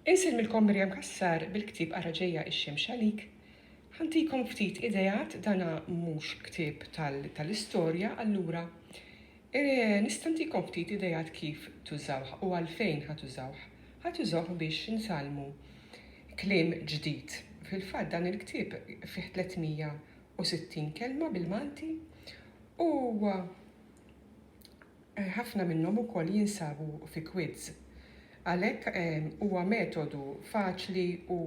Insellmilkom Miriam Cassar bil-ktieb Ara Ġejja x-Xemx Għalik. Ħantikom ftit ideat, dana mhux ktieb tal-istorja, allura nista' ntikom ftit ideat kif tużawh u għalfejn ħa tużawh. Ħa tużawh biex intgħallmu kliem ġdid. Fil-fatt dan il-ktieb fih 360 kelma bil-Malti u Ħafna minnhom ukoll jinsabu fi kwids. Għalhekk huwa metodu faċli u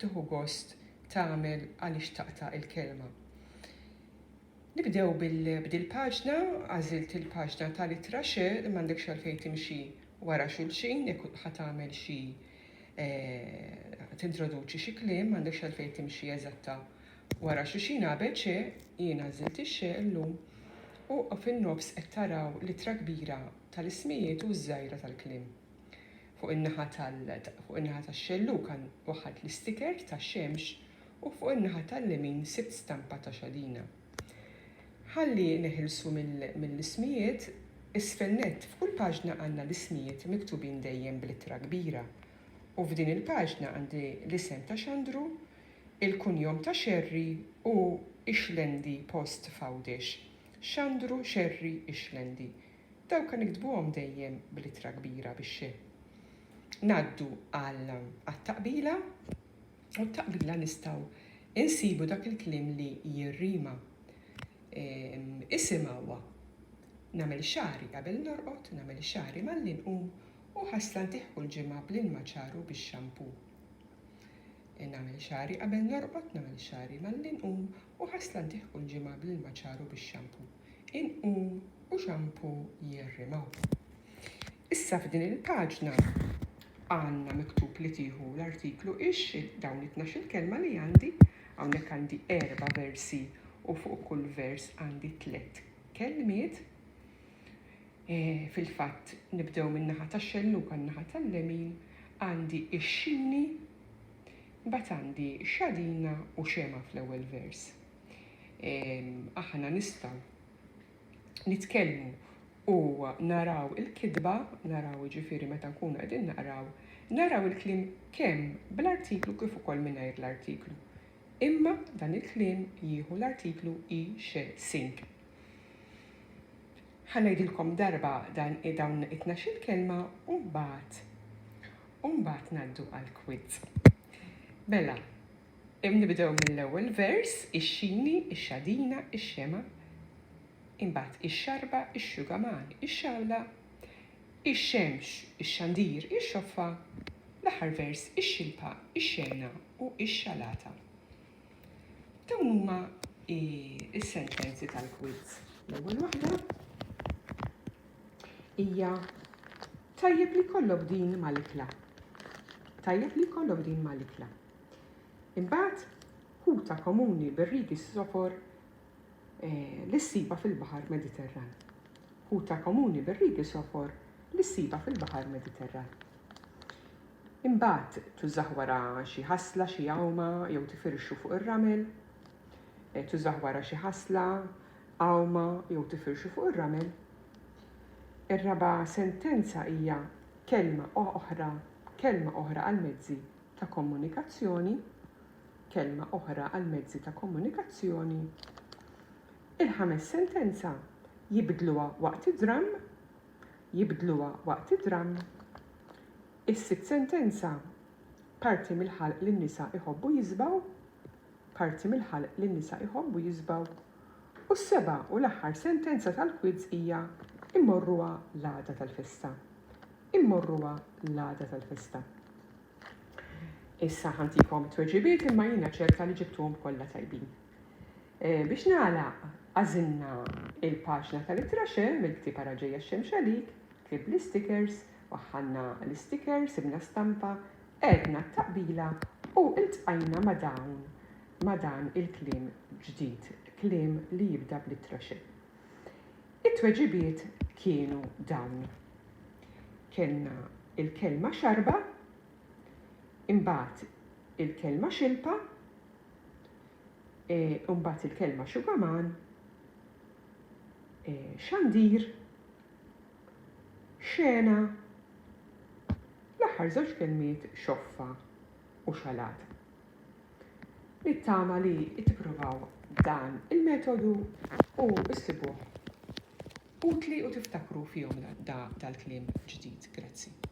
tieħu gost tagħmel għaliex taqta' il-kelma. Nibdew b'dil paġna, għażilt il-paġna tal-ittra x, m'għandekx għalfejn timxi wara xulxin jekk ħa tagħmel xi tintroduċi xi kliem, m'għandekx għalfejn timxi eżatta Wara Xuxina ABC, jien għażilt ix-xe llum u fin-nofs qed taraw l-ittra kbira tal-ismijiet u ż-żgħira tal-kliem. Fuq in-naħa tal fuq in-naħa tax-xelluka waħħalt l-isticker tax-xemx u fuq in-naħa tal-lemin sibt stampa ta' xadina. Ħalli neħilsu mill-ismijiet, isfel nett f'kull paġna għandna l-ismijiet miktubin dejjem bl-ittra kbira u f'din il-paġna għandi l-isem ta' Xandru, Il-kunjom ta' Xerri hu Ixlendi post f'Għawdex. Xandru Xerri Ixlendi. Dawk kan iktbuhom dejjem bl-ittra kbira bix-xe. Ngħaddu għal għat-taqbila u t-taqbila nistgħu insibu dak il-kliem li jirrima. Isim hawa. Nagħmel xagħri qabel norqod, nagħmel xagħri malli nqum u ħasla ntihhu l-ġimgħa bl-ilma ċar u bix-xampoo. Nagħmel xagħri qabel norqod Nagħmel xagħri malli nqum U ħasla ntih kull ġimgħa Bl-ilma ċar u bix-xampu Inqum u xampu jirrimaw Issa f'din il-paġna għandna miktub li tieħu l-artiklu Ixxi dawn it-tnax-il kelma li għandi Hawnhekk għandi erba' versi u fuq kull vers għandi tliet kelmiet. Fil-fatt, nibdew min-naħa tax-xelluka n-naħa tal-lemin, għandi x-xini, mbagħad għandi xadina u xemgħa fl-ewwel vers. Aħna nistgħu nitkellmu u naraw il-kitba, naraw jiġifieri meta nkunu qegħdin naqraw, naraw il-kliem kemm bl-artiklu kif ukoll mingħajr l-artiklu. Imma dan il-kliem jieħu l-artiklu i xe sing. Ħa ngħidilkom darba dan dawn it-tnax-il kelma u mbagħad u mbagħad ngħaddu għall-quiz. Mela, nibdew mill-ewwel vers, ix-xini, ix-xadina, ix-xema, imbagħad ix-xarba, ix-xugaman, ix-xawla, ix-xemx, ix-xandir, ix-xoffa, l-aħħar vers, ix-xilpa, ix-xena u x-xalata. Dawn huma is-sentenzi tal-quiz. L-ewwel waħda hija tajjeb li kollok din mal-ikla. Tajjeb li kollok din mal-ikla. Imbagħad ħuta komuni bir-rigi s-sofor eh, li ssiba fil-Baħar Mediterran. Ħuta komuni bir-rigi sofor li ssiba fil-Baħar Mediterran. Imbagħad tużah wara xi ħasla, xi għawma jew tifirxu fuq ir-ramel. Tużah wara xi ħasla, għawma jew tifirxu fuq ir-ramel. Ir-raba' sentenza hija kelma oħra, kelma oħra għall-mezzi ta' komunikazzjoni, kelma oħra għall-mezzi ta' komunikazzjoni. Il-ħames sentenza jibdluha waqt id-dramm, jibdluha waqt id-dramm. Is-sitt sentenza, Parti mill-ħalq li n-nisa jħobbu jiżbgħu, Parti mill-ħalq li n-nisa jħobbu jiżbgħu, u s-seba' u l-aħħar sentenza tal-kwiz hija Immorruha l-għada tal-festa. Immorruha l-għada tal-festa. Issa ħantikom tweġibiet imma jiena ċerta li ġibtuhom kollha tajbin. Eh, biex nagħlaq għażilna il-paġna tal-ittraxe mill-ktieb ara ġejja x-xemx għalik Ktib l-istikers, waħħalna l-istikers, sibna stampa, għedna t-taqbila u ltqajna ma' dawn, ma' dan il-kliem ġdid, kliem li jibda bl-ittra X. It-tweġibiet kienu dawn, kellna l-kelma xarba, imbagħad il-kelma xilpa, imbagħad il-kelma xugaman, xandir, Xena, L-aħħar żewġ kelmiet xoffa u xalat. Nittama li tippruvaw dan il-metodu u ssibuh utli u tiftakru fihom dal-kliem ġdid. Grazzi.